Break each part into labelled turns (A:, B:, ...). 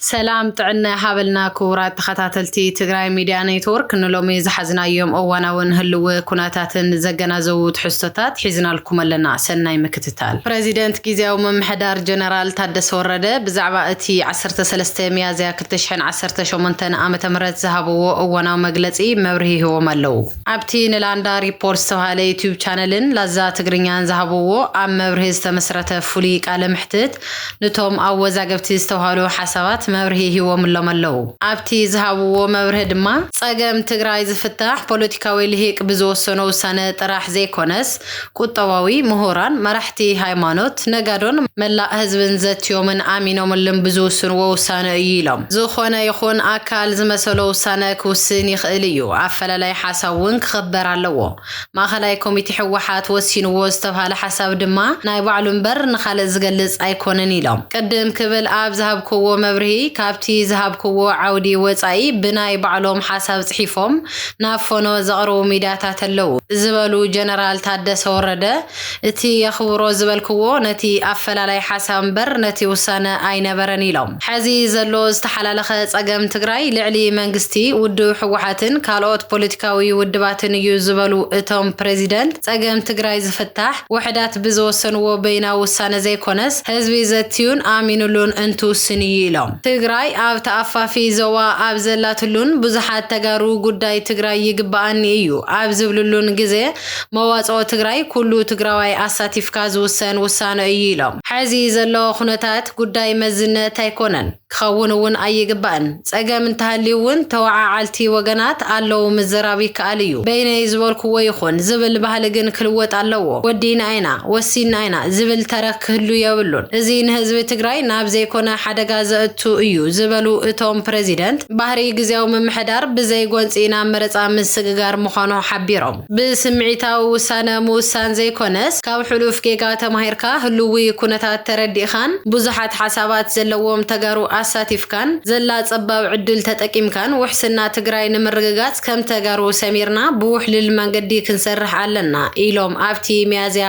A: ሰላም ጥዕና ይሃበልና ክቡራት ተኸታተልቲ ትግራይ ሚድያ ኔትወርክ ንሎሚ ዝሓዝናዮም እዋናውን ህልዊ ኩነታትን ዘገናዘቡ ትሕዝቶታት ሒዝናልኩም ኣለና ሰናይ ምክትታል። ፕረዚደንት ጊዚያዊ ምምሕዳር ጀነራል ታደሰ ወረደ ብዛዕባ እቲ ዓሰርተ ሰለስተ ሚያዝያ ክልተ ሽሕን ዓሰርተ ሸሞንተን ዓመተ ምህረት ዝሃብዎ እዋናዊ መግለፂ መብርሂ ሂቦም ኣለው። ኣብቲ ንላንዳ ሪፖርት ዝተብሃለ ዩቱብ ቻነልን ላዛ ትግርኛን ዝሃብዎ ኣብ መብርሂ ዝተመስረተ ፍሉይ ቃለ መሕትት ንቶም ኣወዛገብቲ ዝተብሃሉ ሓሳባት መብርሂ ሂቦምሎም ኣለው። ኣብቲ ዝሃብዎ መብርሂ ድማ ፀገም ትግራይ ዝፍታሕ ፖለቲካዊ ልሂቅ ብዝወሰኖ ውሳነ ጥራሕ ዘይኮነስ ቁጠባዊ፣ ምሁራን፣ መራሕቲ ሃይማኖት፣ ነጋዶን መላእ ህዝብን ዘትዮምን ኣሚኖምልን ብዝውስንዎ ውሳነ እዩ ኢሎም። ዝኾነ ይኹን ኣካል ዝመሰሎ ውሳነ ክውስን ይኽእል እዩ፣ ኣፈላላይ ሓሳብ እውን ክኽበር ኣለዎ። ማእኸላይ ኮሚቴ ህወሓት ወሲንዎ ዝተብሃለ ሓሳብ ድማ ናይ ባዕሉ እምበር ንኻልእ ዝገልፅ ኣይኮነን ኢሎም። ቅድም ክብል ኣብ ዝሃብኩዎ መብርሂ ካብቲ ዝሃብኩዎ ዓውዲ ወፃኢ ብናይ ባዕሎም ሓሳብ ፅሒፎም ናብ ፎኖ ዘቕርቡ ሚድያታት ኣለው ዝበሉ ጀነራል ታደሰ ወረደ እቲ የኽብሮ ዝበልክዎ ነቲ ኣፈላላይ ሓሳብ እምበር ነቲ ውሳነ ኣይነበረን ኢሎም። ሐዚ ዘሎ ዝተሓላለኸ ፀገም ትግራይ ልዕሊ መንግስቲ፣ ውድብ ህወሓትን ካልኦት ፖለቲካዊ ውድባትን እዩ ዝበሉ እቶም ፕረዚደንት፣ ፀገም ትግራይ ዝፍታሕ ውሕዳት ብዝወሰንዎ በይናዊ ውሳነ ዘይኮነስ ህዝቢ ዘትዩን ኣሚንሉን እንትውስን እዩ ኢሎም። ትግራይ ኣብ ተኣፋፊ ዞባ ኣብ ዘላትሉን ብዙሓት ተጋሩ ጉዳይ ትግራይ ይግበኣኒ እዩ ኣብ ዝብልሉን ግዘ መዋፅኦ ትግራይ ኩሉ ትግራዋይ ኣሳቲፍካ ዝውሰን ውሳነ እዩ ኢሎም። ሐዚ ዘሎ ኩነታት ጉዳይ መዝነት ኣይኮነን፣ ክኸውን እውን ኣይግባእን፣ ፀገም እንተሃልዩ እውን ተወዓዓልቲ ወገናት ኣለው ምዝራብ ይከኣል እዩ፣ በይነይ ዝበልኩዎ ይኹን ዝብል ባህሊ ግን ክልወጥ ኣለዎ፣ ወዲእና ኢና፣ ወሲንና ኢና ዝብል ተረክ ክህሉ የብሉን፣ እዚ ንህዝቢ ትግራይ ናብ ዘይኮነ ሓደጋ ዘእቱ እዩ ዝበሉ እቶም ፕረዚደንት፣ ባህሪ ግዝያዊ ምምሕዳር ብዘይ ጎንፂ ናብ መረፃ ምስግጋር ምዃኑ ሓቢሮም። ብስምዒታዊ ውሳነ ምውሳን ዘይኮነስ ካብ ሕሉፍ ጌጋ ተማሂርካ ህልዊ ኩነታት ተረዲእኻን ብዙሓት ሓሳባት ዘለዎም ተጋሩ ኣሳቲፍካን ዘላ ፀባብ ዕድል ተጠቂምካን ውሕስና ትግራይ ንምርግጋፅ ከም ተጋሩ ሰሚርና ብውሕልል መንገዲ ክንሰርሕ ኣለና ኢሎም ኣብቲ ሚያዝያ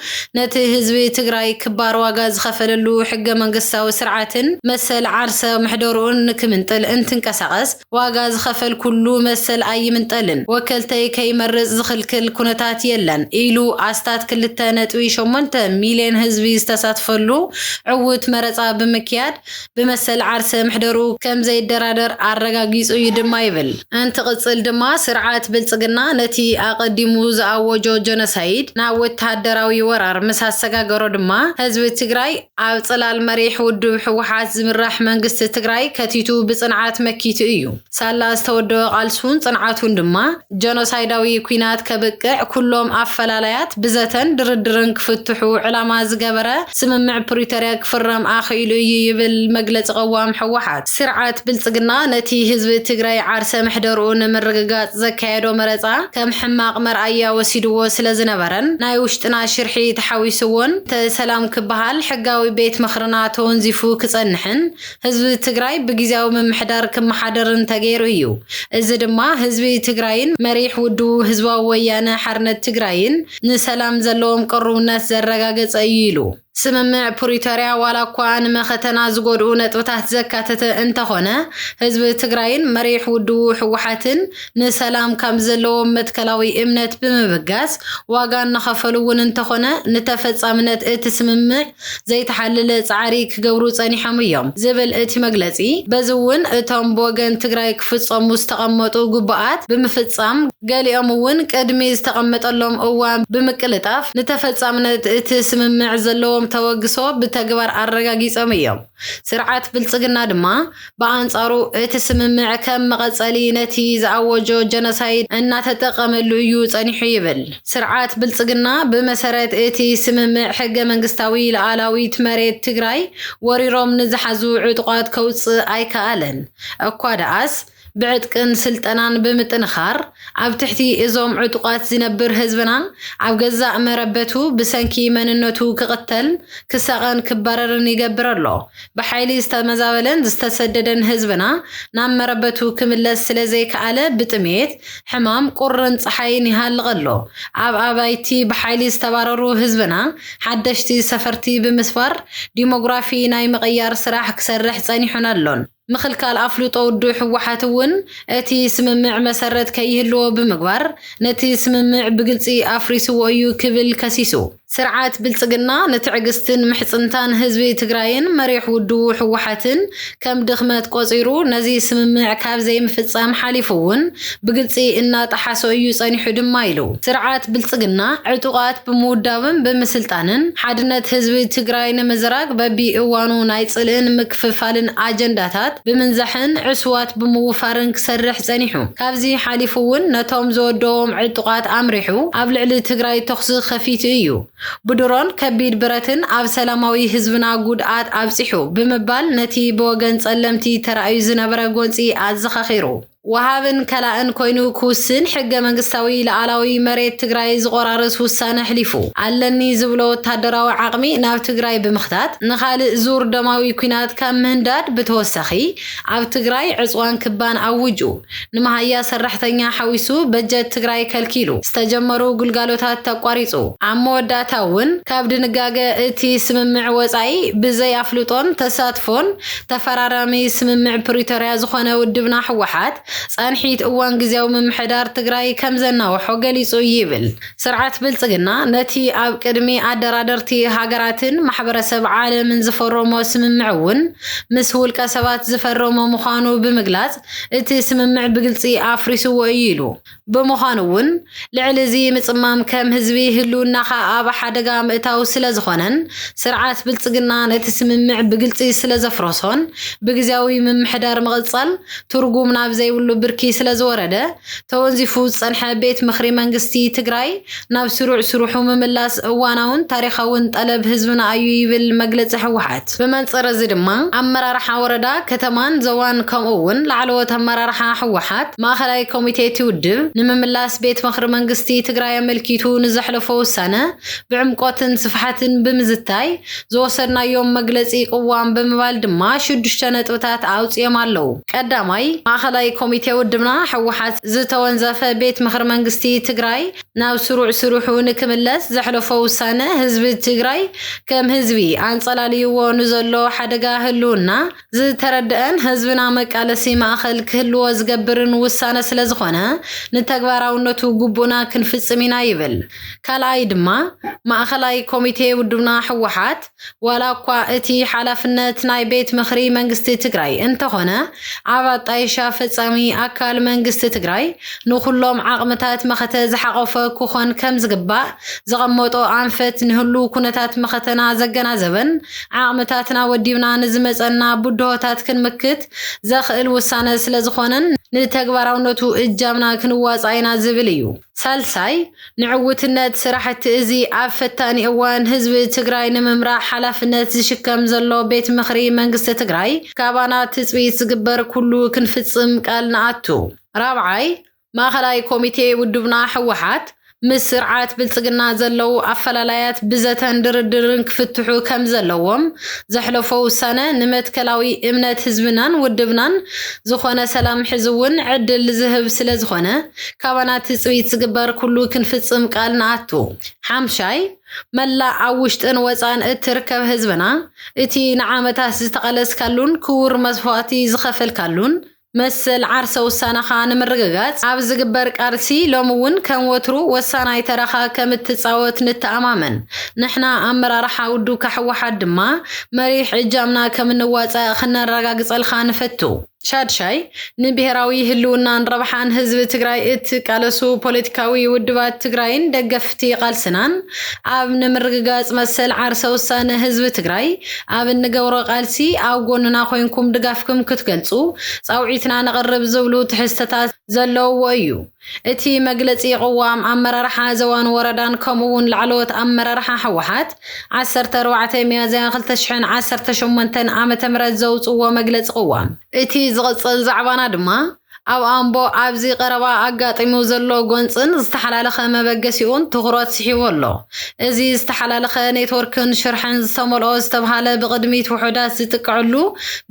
A: ነቲ ህዝቢ ትግራይ ክባር ዋጋ ዝኸፈለሉ ሕገ መንግስታዊ ስርዓትን መሰል ዓርሰ ምሕደርኡን ንክምንጥል እንትንቀሳቐስ ዋጋ ዝኸፈል ኩሉ መሰል ኣይምንጠልን፣ ወከልተይ ከይመርፅ ዝኽልክል ኩነታት የለን ኢሉ ኣስታት ክልተ ነጥቢ ሸሞንተ ሚልየን ህዝቢ ዝተሳትፈሉ ዕዉት መረፃ ብምክያድ ብመሰል ዓርሰ ምሕደርኡ ከም ዘይደራደር ኣረጋጊጹ እዩ ድማ ይብል። እንትቕጽል ድማ ስርዓት ብልጽግና ነቲ ኣቐዲሙ ዝኣወጆ ጀኖሳይድ ናብ ወተሃደራዊ ወራር ምስ ኣሰጋገሮ ድማ ህዝቢ ትግራይ ኣብ ጽላል መሪሕ ውድብ ህወሓት ዝምራሕ መንግስቲ ትግራይ ከቲቱ ብጽንዓት መኪቱ እዩ። ሳላ ዝተወደበ ቃልሱን ጽንዓቱን ድማ ጀኖሳይዳዊ ኲናት ከብቅዕ ኩሎም ኣፈላላያት ብዘተን ድርድርን ክፍትሑ ዕላማ ዝገበረ ስምምዕ ፕሪቶርያ ክፍረም ኣኽኢሉ እዩ ይብል መግለፂ ቅዋም ህወሓት። ስርዓት ብልፅግና ነቲ ህዝቢ ትግራይ ዓርሰ ምሕደርኡ ንምርግጋፅ ዘካየዶ መረፃ ከም ሕማቕ መርኣያ ወሲድዎ ስለዝነበረን ናይ ውሽጥና ሽርሒ ተሓዊስዎን እንተ ሰላም ክበሃል ሕጋዊ ቤት ምኽርና ተወንዚፉ ክፀንሕን ህዝቢ ትግራይ ብግዝያዊ ምምሕዳር ክመሓደር እንተገይሩ እዩ። እዚ ድማ ህዝቢ ትግራይን መሪሕ ውድቡ ህዝባዊ ወያነ ሓርነት ትግራይን ንሰላም ዘለዎም ቅሩብነት ዘረጋገፀ እዩ ኢሉ። ስምምዕ ፕሪቶርያ ዋላ እኳ ንመኸተና ዝጎድኡ ነጥብታት ዘካተተ እንተኾነ ህዝቢ ትግራይን መሪሕ ውድቡ ህወሓትን ንሰላም ካብ ዘለዎም መትከላዊ እምነት ብምብጋስ ዋጋ እናኸፈሉ እውን እንተኾነ ንተፈፃምነት እቲ ስምምዕ ዘይተሓለለ ፃዕሪ ክገብሩ ፀኒሖም እዮም ዝብል እቲ መግለፂ፣ በዚ እውን እቶም ብወገን ትግራይ ክፍፀሙ ዝተቐመጡ ግቡኣት ብምፍፃም ገሊኦም እውን ቅድሚ ዝተቐመጠሎም እዋን ብምቅልጣፍ ንተፈፃምነት እቲ ስምምዕ ዘለዎም ተበግሶ ብተግባር ኣረጋጊፆም እዮም። ስርዓት ብልፅግና ድማ ብኣንጻሩ እቲ ስምምዕ ከም መቐጸሊ ነቲ ዝኣወጆ ጀኖሳይድ እናተጠቐመሉ እዩ ጸኒሑ ይብል ስርዓት ብልጽግና። ብመሰረት እቲ ስምምዕ ሕገ መንግስታዊ ልኣላዊት መሬት ትግራይ ወሪሮም ንዝሓዙ ዕጡቓት ከውጽእ ኣይከኣለን እኳ ደኣስ ብዕጥቅን ስልጠናን ብምጥንኻር ኣብ ትሕቲ እዞም ዕጡቓት ዝነብር ህዝብናን ኣብ ገዛእ መረበቱ ብሰንኪ መንነቱ ክቕተልን ክሳቐን ክባረርን ይገብር ኣሎ ብሓይሊ ዝተመዛበለን ዝተሰደደን ህዝብና ናብ መረበቱ ክምለስ ስለዘይከኣለ ብጥሜት፣ ሕማም፣ ቁርን ጸሓይን ይሃልቕ ኣሎ። ኣብ ኣባይቲ ብሓይሊ ዝተባረሩ ህዝብና ሓደሽቲ ሰፈርቲ ብምስፋር ዲሞግራፊ ናይ ምቕያር ስራሕ ክሰርሕ ጸኒሑን ኣሎን። ምኽልካል ኣፍልጦ ውድብ ህወሓት እውን እቲ ስምምዕ መሰረት ከይህልዎ ብምግባር ነቲ ስምምዕ ብግልጺ ኣፍሪስዎ እዩ ክብል ከሲሱ። ስርዓት ብልፅግና ንትዕግስትን ምሕፅንታን ህዝቢ ትግራይን መሪሕ ውድቡ ህወሓትን ከም ድኽመት ቆፂሩ ነዚ ስምምዕ ካብ ዘይምፍፃም ሓሊፉ እውን ብግልፂ እናጠሓሶ እዩ ፀኒሑ ድማ ኢሉ። ስርዓት ብልፅግና ዕጡቓት ብምውዳብን ብምስልጣንን ሓድነት ህዝቢ ትግራይ ንምዝራግ በቢ እዋኑ ናይ ፅልእን ምክፍፋልን ኣጀንዳታት ብምንዛሕን ዕሱባት ብምውፋርን ክሰርሕ ጸኒሑ። ካብዚ ሓሊፉ'ውን ነቶም ዝወደዎም ዕጡቓት ኣምሪሑ ኣብ ልዕሊ ትግራይ ተኹሲ ከፊቱ እዩ። ብድሮን ከቢድ ብረትን ኣብ ሰላማዊ ህዝብና ጉድኣት ኣብጺሑ ብምባል ነቲ ብወገን ጸለምቲ ተራእዩ ዝነበረ ጎንጺ ኣዘኻኺሩ። ወሃብን ከላእን ኮይኑ ክውስን ሕገ መንግስታዊ ልኣላዊ መሬት ትግራይ ዝቖራርስ ውሳነ ኣሕሊፉ። ኣለኒ ዝብሎ ወታደራዊ ዓቕሚ ናብ ትግራይ ብምኽታት ንኻልእ ዙር ደማዊ ኲናት ካብ ምህንዳድ ብተወሳኺ ኣብ ትግራይ ዕፅዋን ክባን ኣውጁ ንመሃያ ሰራሕተኛ ሓዊሱ በጀት ትግራይ ከልኪሉ ዝተጀመሩ ግልጋሎታት ኣቋሪፁ ኣብ መወዳእታ እውን ካብ ድንጋገ እቲ ስምምዕ ወፃኢ ብዘይ ኣፍልጦን ተሳትፎን ተፈራራሚ ስምምዕ ፕሪቶርያ ዝኾነ ውድብና ህወሓት፣ ፃንሒት እዋን ግዝያዊ ምምሕዳር ትግራይ ከምዘናወሖ ገሊፁ እዩ ይብል። ስርዓት ብልፅግና ነቲ ኣብ ቅድሚ ኣደራደርቲ ሃገራትን ማሕበረሰብ ዓለምን ዝፈረሞ ስምምዕ እውን ምስ ውልቀሰባት ዝፈረሞ ምዃኑ ብምግላፅ እቲ ስምምዕ ብግልፂ ኣፍሪስዎ እዩ ኢሉ። ብምዃኑ እውን ልዕሊ እዚ ምፅማም ከም ህዝቢ ህልውናኻ ኣብ ሓደጋ ምእታው ስለዝኾነን ስርዓት ብልፅግና ነቲ ስምምዕ ብግልፂ ስለዘፍረሶን ብግዚያዊ ምምሕዳር ምቕፃል ትርጉም ናብ ዘይብሉ ብርኪ ስለዝወረደ ተወንዚፉ ዝፀንሐ ቤት ምኽሪ መንግስቲ ትግራይ ናብ ስሩዕ ስርሑ ምምላስ እዋናውን ታሪኻውን ጠለብ ህዝብና ኣዩ ይብል መግለፂ ህወሓት። ብመንፅር እዚ ድማ ኣመራርሓ ወረዳ፣ ከተማን ዞባን ከምኡ እውን ላዕለዎት ኣመራርሓ ህወሓት፣ ማእኸላይ ኮሚቴ እቲ ውድብ ንምምላስ ቤት ምኽሪ መንግስቲ ትግራይ ኣመልኪቱ ንዘሕለፎ ውሳነ ብዕምቆትን ስፍሓትን ብምዝታይ ዝወሰድናዮም መግለፂ ቅዋም ብምባል ድማ ሽዱሽተ ነጥብታት ኣውፂኦም ኣለው። ቀዳማይ፣ ማእኸላይ ኮሚቴ ውድብና ህወሓት ዝተወንዘፈ ቤት ምኽሪ መንግስቲ ትግራይ ናብ ስሩዕ ስርሑ ንክምለስ ዘሕለፎ ውሳነ ህዝቢ ትግራይ ከም ህዝቢ ኣንፀላልይዎ ንዘሎ ሓደጋ ህልውና ዝተረደኣን ህዝብና መቃለሲ ማእኸል ክህልዎ ዝገብርን ውሳነ ስለዝኾነ ንተግባራውነቱ ግቡእና ክንፍፅም ኢና ይብል። ካልኣይ ድማ ማእኸላይ ኮሚቴ ውድብና ህወሓት ዋላ እኳ እቲ ሓላፍነት ናይ ቤት ምኽሪ መንግስቲ ትግራይ እንተኾነ ኣብ ኣጣይሻ ፈፃሚ ኣካል መንግስቲ ትግራይ ንኹሎም ዓቕምታት መኸተ ዝሓቖፈ ክኾን ከምዝግባእ ዘቐመጦ ኣንፈት ንህሉው ኩነታት መኸተና ዘገናዘበን ዓቕምታትና ወዲብና ንዝመፀና ብድሆታት ክንምክት ዘኽእል ውሳነ ስለዝኾነን ንተግባራውነቱ እጃምና ክንዋፃእ ኢና ዝብል እዩ። ሳልሳይ፣ ንዕውትነት ስራሕቲ እዚ ኣብ ፈታኒ እዋን ህዝቢ ትግራይ ንምምራሕ ሓላፍነት ዝሽከም ዘሎ ቤት ምኽሪ መንግስቲ ትግራይ ካባና ትፅቢት ዝግበር ኩሉ ክንፍፅም ቃል ንኣቱ። ራብዓይ፣ ማእኸላይ ኮሚቴ ውድብና ህወሓት ምስ ስርዓት ብልፅግና ዘለዉ ኣፈላላያት ብዘተን ድርድርን ክፍትሑ ከምዘለዎም ዘሕለፎ ውሳነ ንመትከላዊ እምነት ህዝብናን ውድብናን ዝኾነ ሰላም ሕዚ እውን ዕድል ዝህብ ስለዝኾነ ካባና ትጽቢት ዝግበር ኩሉ ክንፍጽም ቃል ንኣቱ። ሓምሻይ፣ መላእ ኣብ ውሽጥን ወጻእን እትርከብ ህዝብና፣ እቲ ንዓመታት ዝተቐለስካሉን ክቡር መስዋእቲ ዝኸፈልካሉን መሰል ዓርሰ ውሳነኻ ንምርግጋጽ ኣብ ዝግበር ቃልሲ ሎሚ እውን ከም ወትሩ ወሳናይ ተራኻ ከም እትጻወት ንተኣማመን። ንሕና ኣመራርሓ ውድብካ ህወሓት ድማ መሪሕ እጃምና ከም እንዋጻእ ክነረጋግጸልካ ንፈቱ። ሻድሻይ፣ ንብሄራዊ ህልውናን ረብሓን ህዝቢ ትግራይ እትቃለሱ ፖለቲካዊ ውድባት ትግራይን ደገፍቲ ቓልስናን ኣብ ንምርግጋፅ መሰል ዓርሰ ውሳነ ህዝቢ ትግራይ ኣብ እንገብሮ ቓልሲ ኣብ ጎንና ኮይንኩም ድጋፍክም ክትገልፁ ፃውዒትና ነቕርብ ዝብሉ ትሕዝተታት ዘለውዎ እዩ። እቲ መግለፂ ቅዋም ኣመራርሓ ዞባን ወረዳን ከምኡ እውን ላዕለዎት ኣመራርሓ ህወሓት ዓሰርተ ኣርባዕተ ሚያዝያ ክልተ ሽሕን ዓሰርተ ሸሞንተን ዓ ም ዘውፅዎ መግለፂ ቅዋም እቲ ዝቕፅል ዛዕባና ድማ ኣብ ኣምቦ ኣብዚ ቀረባ ኣጋጢሙ ዘሎ ጎንፅን ዝተሓላለኸ መበገሲኡን ትኹረት ስሒቡ ኣሎ። እዚ ዝተሓላለኸ ኔትወርክን ሽርሕን ዝተመልኦ ዝተብሃለ ብቕድሚት ውሑዳት ዝጥቅዕሉ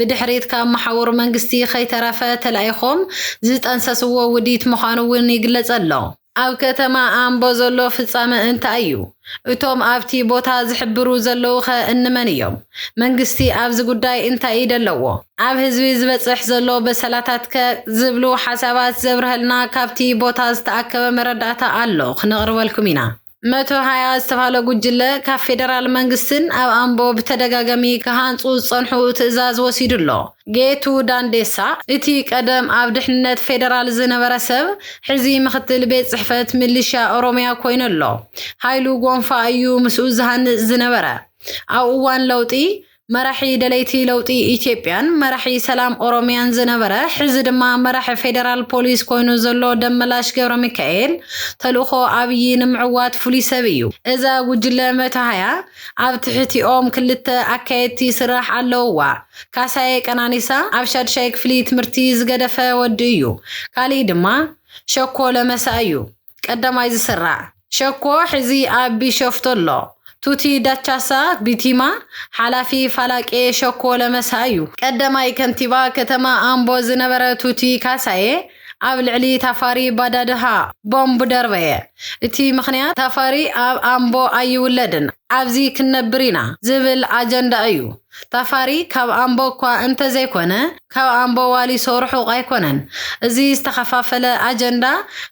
A: ብድሕሪት ካብ መሓውር መንግስቲ ከይተረፈ ተላኢኾም ዝጠንሰስዎ ውዲት ምዃኑ እውን ይግለጸ ኣሎ። ኣብ ከተማ ኣምቦ ዘሎ ፍጻመ እንታይ እዩ? እቶም ኣብቲ ቦታ ዝሕብሩ ዘለዉኸ እንመን እዮም? መንግስቲ ኣብዚ ጉዳይ እንታይ ኢድ ኣለዎ? ኣብ ህዝቢ ዝበጽሕ ዘሎ በሰላታትከ? ዝብሉ ሓሳባት ዘብርሀልና ካብቲ ቦታ ዝተኣከበ መረዳእታ ኣሎ ክነቕርበልኩም ኢና። መቶ ሃያ ዝተባህለ ጉጅለ ካብ ፌደራል መንግስትን ኣብ ኣምቦ ብተደጋገሚ ክሃንጹ ዝጸንሑ ትእዛዝ ወሲዱ ኣሎ። ጌቱ ዳንዴሳ፣ እቲ ቀደም ኣብ ድሕንነት ፌደራል ዝነበረ ሰብ፣ ሕዚ ምክትል ቤት ጽሕፈት ምልሻ ኦሮምያ ኮይኑ ኣሎ። ሃይሉ ጎንፋ እዩ ምስኡ ዝሃንጽ ዝነበረ። ኣብ እዋን ለውጢ፣ መራሒ ደለይቲ ለውጢ ኢትዮጵያን መራሒ ሰላም ኦሮሚያን ዝነበረ ሕዚ ድማ መራሒ ፌደራል ፖሊስ ኮይኑ ዘሎ ደመላሽ ገብረሚካኤል ተልእኾ ኣብይ ንምዕዋት ፍሉይ ሰብ እዩ። እዛ ጉጅለ መተሃያ ኣብ ትሕቲኦም ክልተ ኣካየድቲ ስራሕ ኣለውዋ። ካሳየ ቀናኒሳ ኣብ ሻድሻይ ክፍሊ ትምህርቲ ዝገደፈ ወዲ እዩ። ካሊእ ድማ ሸኮ ለመሳ እዩ። ቀዳማይ ዝስራዕ ሸኮ ሕዚ ኣብ ቢሸፍቱ ኣሎ። ቱቲ ዳቻሳ፣ ቢቲማ፣ ሓላፊ ፋላቄ ሸኮ ለመሳ እዩ። ቀዳማይ ከንቲባ ከተማ ኣምቦ ዝነበረ ቱቲ ካሳዬ ኣብ ልዕሊ ታፋሪ ባዳድሃ ቦምብ ደርበየ። እቲ ምኽንያት ታፋሪ ኣብ ኣምቦ ኣይውለድን ኣብዚ ክንነብር ኢና ዝብል ኣጀንዳ እዩ። ታፋሪ ካብ ኣምቦ እኳ እንተዘይኮነ ካብ ኣምቦዋሊ ሰው ርሑቕ ኣይኮነን እዚ ዝተኸፋፈለ ኣጀንዳ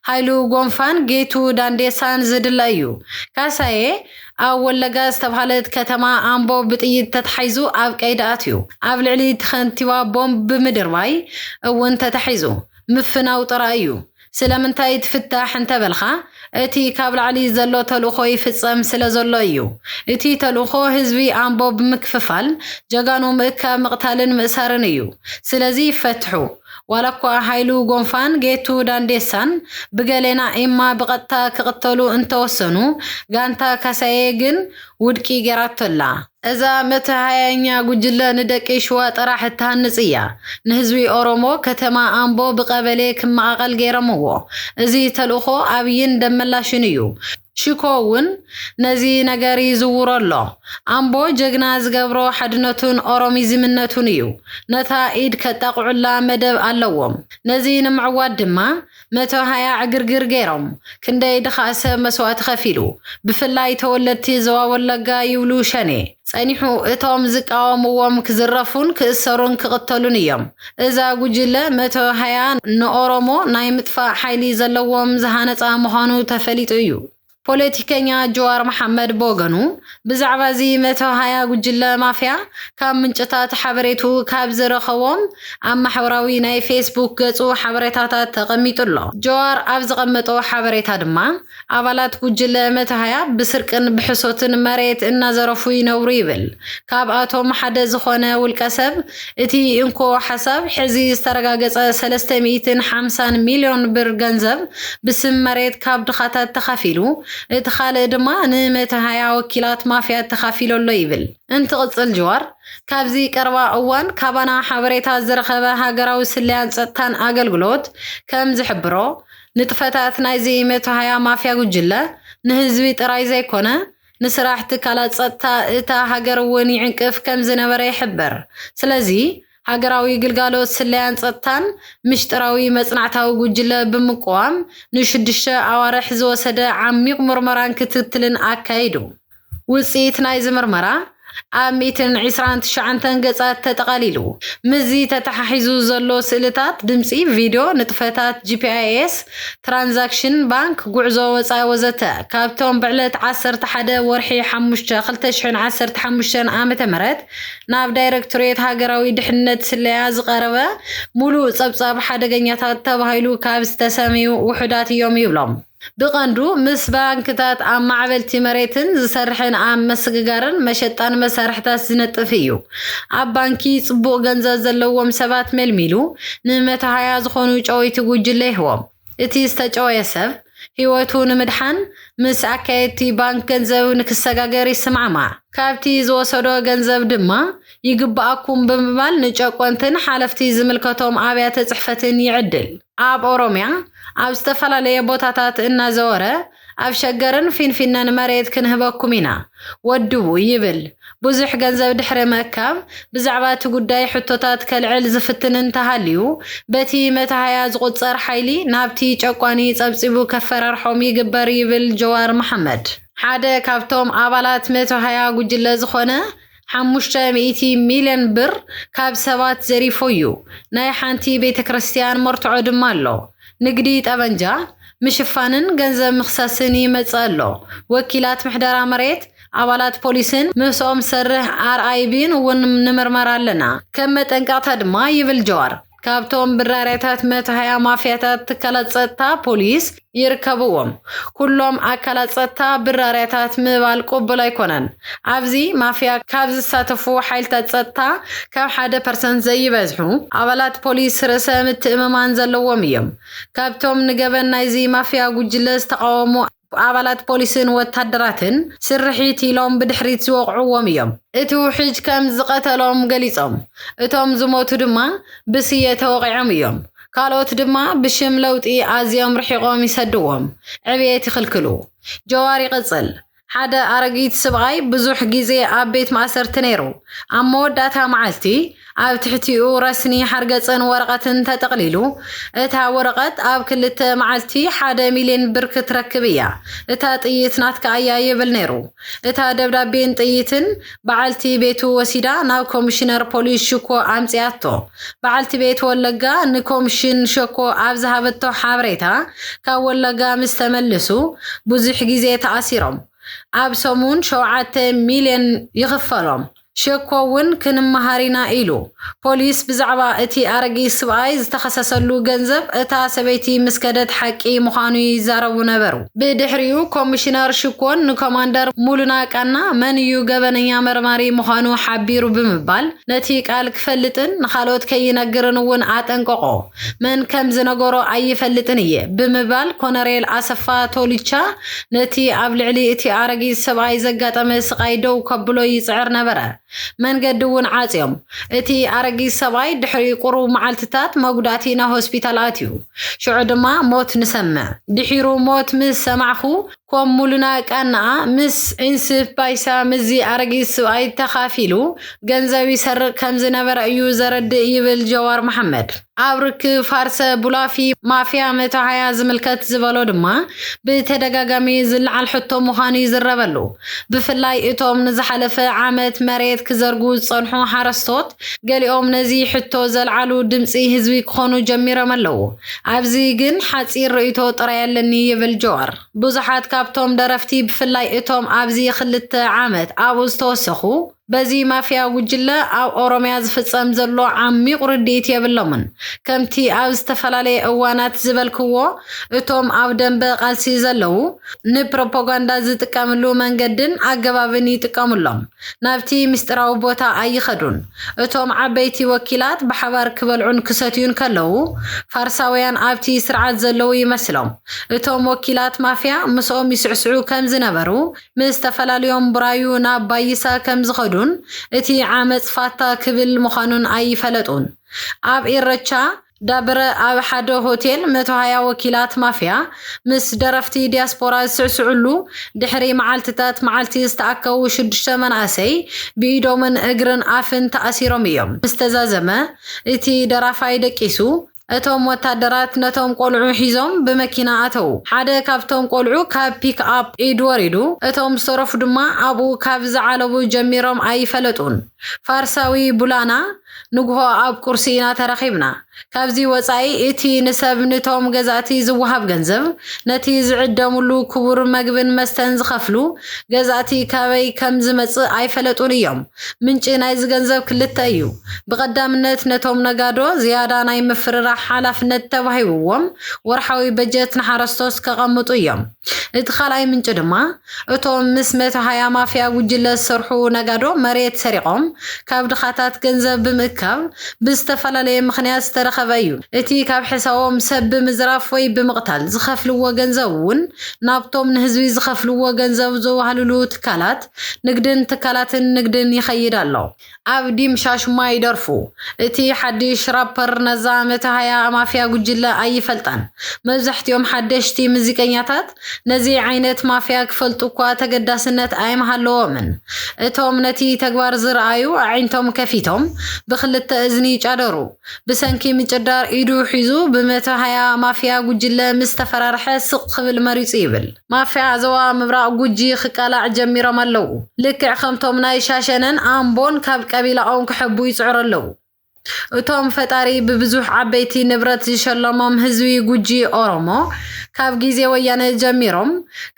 A: ሃይሉ ጎንፋን ጌቱ ዳንዴሳን ዝድለ እዩ ካሳየ ኣብ ወለጋ ዝተብሃለት ከተማ ኣምቦ ብጥይት ተታሒዙ ኣብ ቀይዲ ኣትዩ ኣብ ልዕሊ እቲ ከንቲባ ቦምብ ብምድርባይ እውን ተታሒዙ ምፍናው ጥራይ እዩ ስለምንታይ ትፍታሕ እንተ በልካ፣ እቲ ካብ ላዕሊ ዘሎ ተልእኾ ይፍጸም ስለ ዘሎ እዩ። እቲ ተልእኾ ህዝቢ ኣምቦ ብምክፍፋል፣ ጀጋኑ ምእካብ፣ ምቕታልን ምእሳርን እዩ። ስለዚ ይፈትሑ። ዋላኳ ሃይሉ ጎንፋን ጌቱ ዳንዴሳን ብገሌና ኢማ ብቐጥታ ክቕተሉ እንተወሰኑ፣ ጋንታ ካሳዬ ግን ውድቂ ጌራቶ ኣላ። እዛ መተሃያኛ ጉጅለ ንደቂ ሽዋ ጥራሕ እትሃንጽ እያ። ንህዝቢ ኦሮሞ ከተማ ኣምቦ ብቀበሌ ክመቓቐል ገይረምዎ። እዚ ተልእኾ ኣብይን ደመላሽን እዩ። ሽኮ እውን ነዚ ነገር ይዝውሮ ኣሎ። ኣምቦ ጀግና ዝገብሮ ሓድነቱን ኦሮሚዝምነቱን እዩ። ነታ ኢድ ከጣቕዑላ መደብ ኣለዎም። ነዚ ንምዕዋት ድማ መተውሃያ ዕግርግር ገይሮም ክንደይ ድኻ ሰብ መስዋእቲ ከፊሉ ብፍላይ ተወለድቲ ዞባ ወለጋ ይብሉ ሸኔ ጸኒሑ እቶም ዝቃወምዎም ክዝረፉን ክእሰሩን ክቕተሉን እዮም እዛ ጉጅለ መተውሃያ ንኦሮሞ ናይ ምጥፋእ ሓይሊ ዘለዎም ዝሃነጻ ምዃኑ ተፈሊጡ እዩ ፖለቲከኛ ጅዋር መሓመድ ብወገኑ፣ ብዛዕባ እዚ መተውሃያ ጉጅለ ማፍያ ካብ ምንጭታት ሓበሬትኡ ካብ ዝረኸቦም ኣብ ማሕበራዊ ናይ ፌስቡክ ገጹ ሓበሬታታት ተቐሚጡ ኣሎ። ጅዋር ኣብ ዘቐመጦ ሓበሬታ ድማ፣ ኣባላት ጉጅለ መተውሃያ ብስርቅን ብሕሶትን መሬት እናዘረፉ ይነብሩ ይብል። ካብኣቶም ሓደ ዝኾነ ውልቀሰብ፣ እቲ እንኮ ሓሳብ ሕዚ ዝተረጋገፀ ሰለስተ ሚኢትን ሓምሳን ሚልዮን ብር ገንዘብ ብስም መሬት ካብ ድኻታት ተኻፊሉ እቲ ኻልእ ድማ ንመተሃያ ወኪላት ማፍያት ተኻፊሎ ኣሎ ይብል እንትቕፅል ጅዋር ካብዚ ቀረባ እዋን ካባና ሓበሬታ ዝረኸበ ሃገራዊ ስለያን ፀጥታን ኣገልግሎት ከም ዝሕብሮ ንጥፈታት ናይዚ መተሃያ ማፍያ ጉጅለ ንህዝቢ ጥራይ ዘይኮነ ንስራሕ ትካላት ጸጥታ እታ ሃገር እውን ይዕንቅፍ ከም ዝነበረ ይሕበር። ስለዚ፣ ሃገራዊ ግልጋሎት ስለያን ጸጥታን፣ ምሽጥራዊ መጽናዕታዊ ጉጅለ ብምቁዋም፣ ንሽዱሽተ ኣዋርሕ ዝወሰደ ዓሚቕ ምርመራን ክትትልን ኣካይዱ። ውጽኢት ናይዚ ምርመራ፣ ኣብ ሚእትን ዒስራን ትሽዓንተን ገጻት ተጠቓሊሉ። ምስዚ ተተሓሒዙ ዘሎ ስእልታት፣ ድምጺ፣ ቪድዮ፣ ንጥፈታት GPS፣ ትራንዛክሽን፣ ባንክ፣ ጉዕዞ ወጻኢ ወዘተ፣ ካብቶም ብዕለት ዓሰርተ ሓደ ወርሒ ሓሙሽተ ክልተ ሽሕን ዓሰርተ ሓሙሽተን ዓመተ ምህረት ናብ ዳይረክቶሬት ሃገራዊ ድሕንነት ስለያ ዝቐረበ ምሉእ ጸብጻብ ሓደገኛታት ተባሂሉ ካብ ዝተሰምዩ ውሑዳት እዮም ይብሎም። ብቐንዱ ምስ ባንክታት ኣብ ማዕበልቲ መሬትን ዝሰርሕን ኣብ መስግጋርን መሸጣን መሳርሕታት ዝነጥፍ እዩ። ኣብ ባንኪ ጽቡቕ ገንዘብ ዘለዎም ሰባት መልሚሉ ንመተሃያ ዝኾኑ ጨወይቲ ጉጅለ ይህቦም። እቲ ዝተጨወየ ሰብ፣ ህይወቱ ንምድሓን ምስ ኣካየድቲ ባንክ ገንዘብ ንክሰጋገር ይሰማዕማዕ። ካብቲ ዝወሰዶ ገንዘብ ድማ ይግበኣኩም ብምባል ንጨቆንትን ሓለፍቲ ዝምልከቶም ኣብያተ ጽሕፈትን ይዕድል። ኣብ ኦሮምያ ኣብ ዝተፈላለየ ቦታታት እናዘወረ ኣብ ሸገርን ፊንፊነን መሬት ክንህበኩም ኢና፣ ወድቡ ይብል። ብዙሕ ገንዘብ ድሕሪ ምእካብ ብዛዕባ እቲ ጉዳይ ሕቶታት ከልዕል ዝፍትን እንተሃልዩ በቲ መተሃያ ዝቑጸር ሓይሊ ናብቲ ጨቋኒ ጸብጺቡ ከፈራርሖም ይግበር ይብል ጀዋር መሓመድ። ሓደ ካብቶም ኣባላት መተሃያ ጉጅለ ዝኾነ ሓሙሽተ ሚእቲ ሚልዮን ብር ካብ ሰባት ዘሪፉ'ዩ፣ ናይ ሓንቲ ቤተክርስትያን መርትዖ ድማ ኣሎ። ንግዲ ጠበንጃ ምሽፋንን ገንዘብ ምኽሳስን ይመጽእ ኣሎ። ወኪላት ምሕደራ መሬት፣ ኣባላት ፖሊስን ምስኦም ዝሰርሕ ኣርኣይቢን እውን ንምርመራ ኣለና፣ ከም መጠንቀቕታ ድማ ይብል ጀዋር። ካብቶም ብራርያታት መታህያ ማፍያታት ትካላት ጸጥታ ፖሊስ ይርከብዎም። ኩሎም ኣካላት ጸጥታ ብራርያታት ምባል ቅቡል ኣይኮነን። ኣብዚ ማፍያ ካብ ዝሳተፉ ሓይልታት ጸጥታ ካብ ሓደ ፐርሰንት ዘይበዝሑ ኣባላት ፖሊስ ርእሰ ምትእምማን ዘለዎም እዮም። ካብቶም ንገበን ናይዚ ማፍያ ጉጅለ ዝተቓወሙ ኣባላት ፖሊስን ወታደራትን ስርሒት ኢሎም ብድሕሪት ዝወቕዕዎም እዮም። እቲ ውሕጅ ከም ዝቐተሎም ገሊጾም። እቶም ዝሞቱ ድማ ብስየ ተወቒዖም እዮም። ካልኦት ድማ ብሽም ለውጢ ኣዝዮም ርሒቖም ይሰድዎም፣ ዕብየት ይኽልክሉ። ጀዋር ይቕጽል፣ ሓደ ኣረጊት ስብኣይ ብዙሕ ግዜ ኣብ ቤት ማእሰርቲ ነይሩ። ኣብ መወዳእታ መዓልቲ፣ ኣብ ትሕቲኡ ረስኒ ሓርገጽን ወረቐትን ተጠቕሊሉ። እታ ወረቐት ኣብ ክልተ መዓልቲ ሓደ ሚልዮን ብር ክትረክብ እያ፣ እታ ጥይት ናትካ እያ ይብል ነይሩ። እታ ደብዳቤን ጥይትን በዓልቲ ቤቱ ወሲዳ ናብ ኮሚሽነር ፖሊስ ሽኮ ኣምጺኣቶ። በዓልቲ ቤት ወለጋ ንኮምሽን ሸኮ ኣብ ዝሃበቶ ሓበሬታ ካብ ወለጋ ምስ ተመልሱ ብዙሕ ግዜ ተኣሲሮም ኣብ ሰሙን ሸውዓተ ሚልዮን ይኽፈሎም ሸኮ እውን ክንመሃር ኢና ኢሉ። ፖሊስ ብዛዕባ እቲ ኣረጊት ስብኣይ ዝተኸሰሰሉ ገንዘብ እታ ሰበይቲ ምስ ከደት ሓቂ ምዃኑ ይዛረቡ ነበሩ። ብድሕሪኡ ኮሚሽነር ሽኮን ንኮማንደር ሙሉና ቃና መን እዩ ገበነኛ መርማሪ ምዃኑ ሓቢሩ ብምባል ነቲ ቃል ክፈልጥን ንኻልኦት ከይነግርን እውን ኣጠንቀቖ። መን ከም ዝነገሮ ኣይፈልጥን እየ ብምባል ኮነሬል ኣሰፋ ቶልቻ ነቲ ኣብ ልዕሊ እቲ ኣረጊት ሰብኣይ ዘጋጠመ ስቓይ ደው ከብሎ ይጽዕር ነበረ። መንገዲ እውን ዓጽዮም። እቲ ኣረጊት ሰብኣይ ድሕሪ ቁሩብ መዓልትታት መጉዳእቲ ናብ ሆስፒታል ኣትዩ። ሽዑ ድማ ሞት ንሰምዕ። ድሒሩ ሞት ምስ ሰማዕኩ ኮም ሙሉና ቀናኣ ምስ ዒንስፍ ባይሳ ምስዚ ኣረጊት ስብኣይ ተኻፊሉ ገንዘብ ይሰርቕ ከምዝነበረ እዩ ዘረድእ ይብል ጀዋር መሓመድ። ኣብ ርክብ ፋርሰ ቡላፊ ማፍያ መታዓያ ዝምልከት ዝበሎ ድማ ብተደጋጋሚ ዝለዓል ሕቶ ምዃኑ'ዩ ዝረበሉ። ብፍላይ እቶም ንዝሓለፈ ዓመት መሬት ክዘርጉ ዝጸንሑ ሓረስቶት ገሊኦም ነዚ ሕቶ ዘልዓሉ ድምጺ ህዝቢ ክኾኑ ጀሚሮም ኣለዉ። ኣብዚ ግን ሓጺር ርእይቶ ጥራይ ኣለኒ ይብል ጆዋር። ብዙሓት ካብቶም ደረፍቲ ብፍላይ እቶም ኣብዚ ክልተ ዓመት ኣብኡ ዝተወሰኹ በዚ ማፍያ ጉጅለ ኣብ ኦሮምያ ዝፍጸም ዘሎ ዓሚቝ ርድኢት የብሎምን። ከምቲ ኣብ ዝተፈላለየ እዋናት ዝበልክዎ እቶም ኣብ ደምበ ቃልሲ ዘለዉ ንፕሮፖጋንዳ ዝጥቀምሉ መንገድን ኣገባብን ይጥቀምሎም። ናብቲ ምስጢራዊ ቦታ ኣይኸዱን። እቶም ዓበይቲ ወኪላት ብሓባር ክበልዑን ክሰትዩን ከለዉ፣ ፋርሳውያን ኣብቲ ስርዓት ዘለዉ ይመስሎም። እቶም ወኪላት ማፍያ ምስኦም ይስዕስዑ ከም ዝነበሩ፣ ምስ ተፈላልዮም ቡራዩ ናብ ባይሳ ከም ዝኸዱን እቲ ዓመጽ ፋታ ክብል ምዃኑን ኣይፈለጡን። ኣብ ኢረቻ፣ ዳብረ ኣብ ሓደ ሆቴል መቶ ሃያ ወኪላት ማፍያ ምስ ደረፍቲ ዲያስፖራ ዝስዕስዕሉ ድሕሪ መዓልቲታት መዓልቲ ዝተኣከቡ ሽዱሽተ መናእሰይ ብኢዶምን እግርን ኣፍን ተኣሲሮም እዮም ምስ ተዛዘመ እቲ ደራፋይ ደቂሱ እቶም ወታደራት ነቶም ቆልዑ ሒዞም ብመኪና ኣተዉ ሓደ ካብቶም ቆልዑ ካብ ፒክ ኣፕ ኢድ ወሪዱ እቶም ዝተረፉ ድማ ኣብኡ ካብ ዝዓለቡ ጀሚሮም ኣይፈለጡን ፋርሳዊ ቡላና ንግሆ ኣብ ቁርሲ ኢና ተራኺብና። ካብዚ ወጻኢ እቲ ንሰብ ንቶም ገዛእቲ ዝወሃብ ገንዘብ፣ ነቲ ዝዕደምሉ ክቡር መግብን መስተን ዝኸፍሉ ገዛእቲ ካበይ ከም ዝመጽእ ኣይፈለጡን እዮም። ምንጪ ናይዚ ገንዘብ ክልተ እዩ። ብቐዳምነት ነቶም ነጋዶ ዝያዳ ናይ ምፍርራሕ ሓላፍነት ተዋሂብዎም ወርሓዊ በጀት ንሓረስቶት ከቐምጡ እዮም። እቲ ካልኣይ ምንጪ ድማ፣ እቶም ምስ መተሃያ ማፍያ ጉጅለ ዝሰርሑ ነጋዶ መሬት ሰሪቖም ካብ ድኻታት ገንዘብ ብምእካብ ብዝተፈላለየ ምኽንያት ዝተረኸበ እዩ። እቲ ካብ ሕሳቦም ሰብ ብምዝራፍ ወይ ብምቕታል ዝኸፍልዎ ገንዘብ እውን ናብቶም ንህዝቢ ዝኸፍልዎ ገንዘብ ዘዋህልሉ ትካላት ንግድን ትካላትን ንግድን ይኸይድ ኣሎ። ኣብ ዲምሻሽማ ይደርፉ እቲ ሓዲሽ ራፐር ነዛ መታሃያ ማፍያ ጉጅለ ኣይፈልጣን መብዛሕቲኦም ሓደሽቲ ምዚቀኛታት ነዚ ዓይነት ማፍያ ክፈልጡ እኳ ተገዳስነት ኣይምሃለዎምን እቶም ነቲ ተግባር ዝርኣዩ ኣዒንቶም ከፊቶም ብክልተ እዝኒ ይጫደሩ ብሰንኪ ምጭዳር ኢዱ ሒዙ ብመታሃያ ማፍያ ጉጅለ ምስ ተፈራርሐ ስቅ ክብል መሪጹ ይብል ማፍያ ዞባ ምብራቕ ጉጂ ክቃላዕ ጀሚሮም ኣለዉ። ልክዕ ከምቶም ናይ ሻሸነን ኣምቦን ካብ ቀቢላኦም ክሕቡ ይጽዕሩ ኣለዉ። እቶም ፈጣሪ ብብዙሕ ዓበይቲ ንብረት ዝሸለሞም ህዝቢ ጉጂ ኦሮሞ ካብ ግዜ ወያነ ጀሚሮም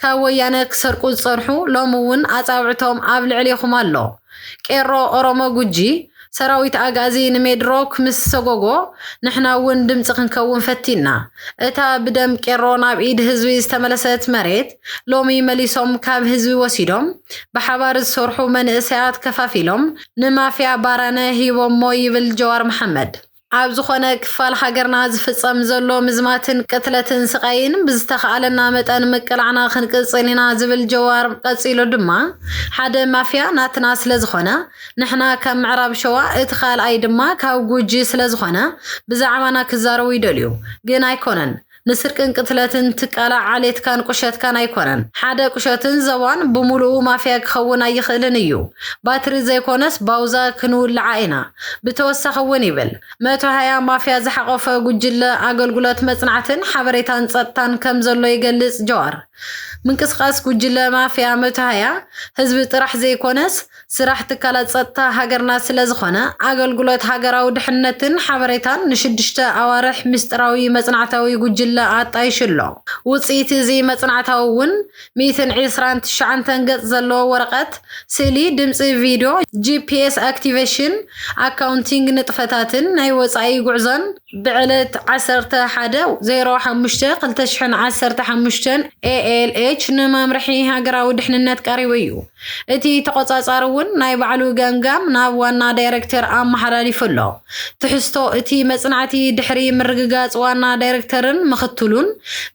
A: ካብ ወያነ ክሰርቁ ዝጸንሑ ሎሚ እውን ኣጻብዕቶም ኣብ ልዕሌኹም ኣሎ። ቄሮ ኦሮሞ ጉጂ ሰራዊት ኣግኣዚ ንሜድሮክ ምስ ሰጎጎ ንሕና እውን ድምፂ ክንከውን ፈቲንና እታ ብደም ቄሮ ናብ ኢድ ህዝቢ ዝተመለሰት መሬት ሎሚ መሊሶም ካብ ህዝቢ ወሲዶም ብሓባር ዝሰርሑ መንእሰያት ከፋፊሎም ንማፍያ ባራነ ሂቦሞ ይብል ጀዋር መሓመድ። ኣብ ዝኾነ ክፋል ሃገርና ዝፍጸም ዘሎ ምዝማትን ቅትለትን ስቓይን ብዝተኻኣለና መጠን ምቅላዕና ክንቅጽል ኢና ዝብል ጀዋር ቀጺሉ ድማ ሓደ ማፍያ ናትና ስለዝኾነ ንሕና ካብ ምዕራብ ሸዋ እቲ ካልኣይ ድማ ካብ ጉጂ ስለዝኾነ ብዛዕባና ክዛረቡ ይደልዩ ግን ኣይኮነን ንስርቅን ቅትለትን ትቃላዕ ዓሌትካን ቁሸትካን ኣይኮነን ሓደ ቁሸትን ዘዋን ብሙሉኡ ማፍያ ክኸውን ኣይኽእልን እዩ ባትሪ ዘይኮነስ ባውዛ ክንውልዓ ኢና ብተወሳኺ እውን ይብል መቶ ሃያ ማፍያ ዝሓቆፈ ጉጅለ ኣገልጉሎት መፅናዕትን ሓበሬታን ፀጥታን ከም ዘሎ ይገልፅ ጀዋር ምንቅስቃስ ጉጅለ ማፍያ መቶ ሃያ ህዝቢ ጥራሕ ዘይኮነስ ስራሕ ትካላት ፀጥታ ሃገርና ስለዝኾነ ኣገልግሎት ሃገራዊ ድሕነትን ሓበሬታን ንሽዱሽተ ኣዋርሕ ሚስጢራዊ መፅናዕታዊ ጉጅለ ኣጣይሹ ኣሎ። ውፅኢት እዚ መፅናዕታዊ እውን ሚእትን ዒስራን ትሽዓንተን ገፅ ዘለዎ ወረቐት፣ ስእሊ፣ ድምፂ፣ ቪድዮ፣ ጂፒኤስ ኣክቲቬሽን፣ ኣካውንቲንግ ንጥፈታትን ናይ ወፃኢ ጉዕዞን፣ ብዕለት ዓሰርተ ሓደ፣ ዜሮ ሓሙሽተ፣ ክልተ ሽሕን ዓሰርተ ሓሙሽተን ALH ንመምርሒ ሃገራዊ ድሕንነት ቀሪቡ እዩ። እቲ ተቖጻጻሪ እውን ናይ ባዕሉ ገምጋም ናብ ዋና ዳይረክተር ኣመሓላሊፉ ኣሎ። ትሕዝቶ እቲ መጽናዕቲ ድሕሪ ምርግጋጽ ዋና ዳይረክተርን ምኽትሉን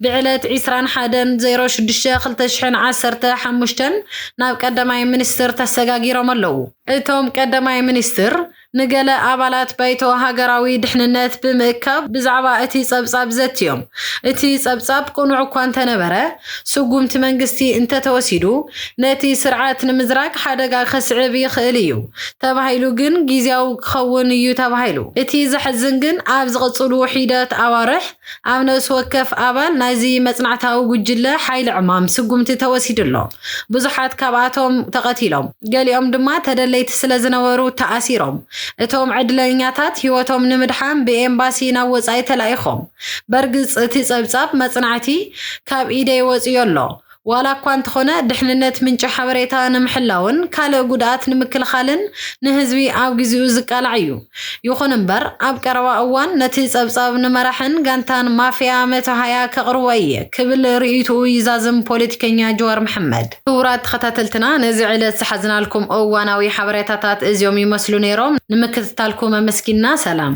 A: ብዕለት ዕስራን ሓደን፣ ዜሮ ሽዱሽተ፣ ክልተ ሽሕን ዓሰርተ ሓሙሽተን ናብ ቀዳማይ ሚኒስትር ተሰጋጊሮም ኣለዉ። እቶም ቀዳማይ ሚኒስትር፣ ንገለ ኣባላት ባይቶ ሃገራዊ ድሕንነት ብምእካብ ብዛዕባ እቲ ጸብጻብ ዘትዮም። እቲ ጸብጻብ ቅኑዕ እኳ እንተነበረ፣ ስጉምቲ መንግስቲ እንተተወሲዱ ነቲ ስርዓት ንምዝራግ ሓደጋ ከስዕብ ይኽእል እዩ ተባሂሉ ግን ግዝያዊ ክኸውን እዩ ተባሂሉ። እቲ ዘሕዝን ግን ኣብ ዝቕጽሉ ሒደት ኣዋርሕ፣ ኣብ ነብሲ ወከፍ ኣባል ናይዚ መጽናዕታዊ ጉጅለ ሓይሊ ዕማም ስጉምቲ ተወሲዱ ኣሎ። ብዙሓት ካብኣቶም ተቐቲሎም፣ ገሊኦም ድማ ተደለይቲ ስለ ዝነበሩ ተኣሲሮም። እቶም ዕድለኛታት ህይወቶም ንምድሓን ብኤምባሲ ናብ ወጻኢ ተላኢኾም። በርግጽ እቲ ጸብጻብ መጽናዕቲ ካብ ኢደይ ወጺኡ'ሎ። ዋላ እኳ እንተኾነ ድሕንነት ምንጪ ሓበሬታ ንምሕላውን ካልእ ጉድኣት ንምክልኻልን ንህዝቢ ኣብ ግዚኡ ዝቃላዕ እዩ። ይኹን እምበር ኣብ ቀረባ እዋን ነቲ ጸብጻብ ንመራሕን ጋንታን ማፍያ መቶ-ሃያ ከቕርቦ እየ ክብል ርእይትኡ ይዛዝም ፖለቲከኛ ጅዋር መሓመድ። ክቡራት ተኸታተልትና ነዚ ዕለት ዝሓዝናልኩም እዋናዊ ሓበሬታታት እዚኦም ይመስሉ ነይሮም። ንምክትታልኩም ኣመስጊንና ሰላም።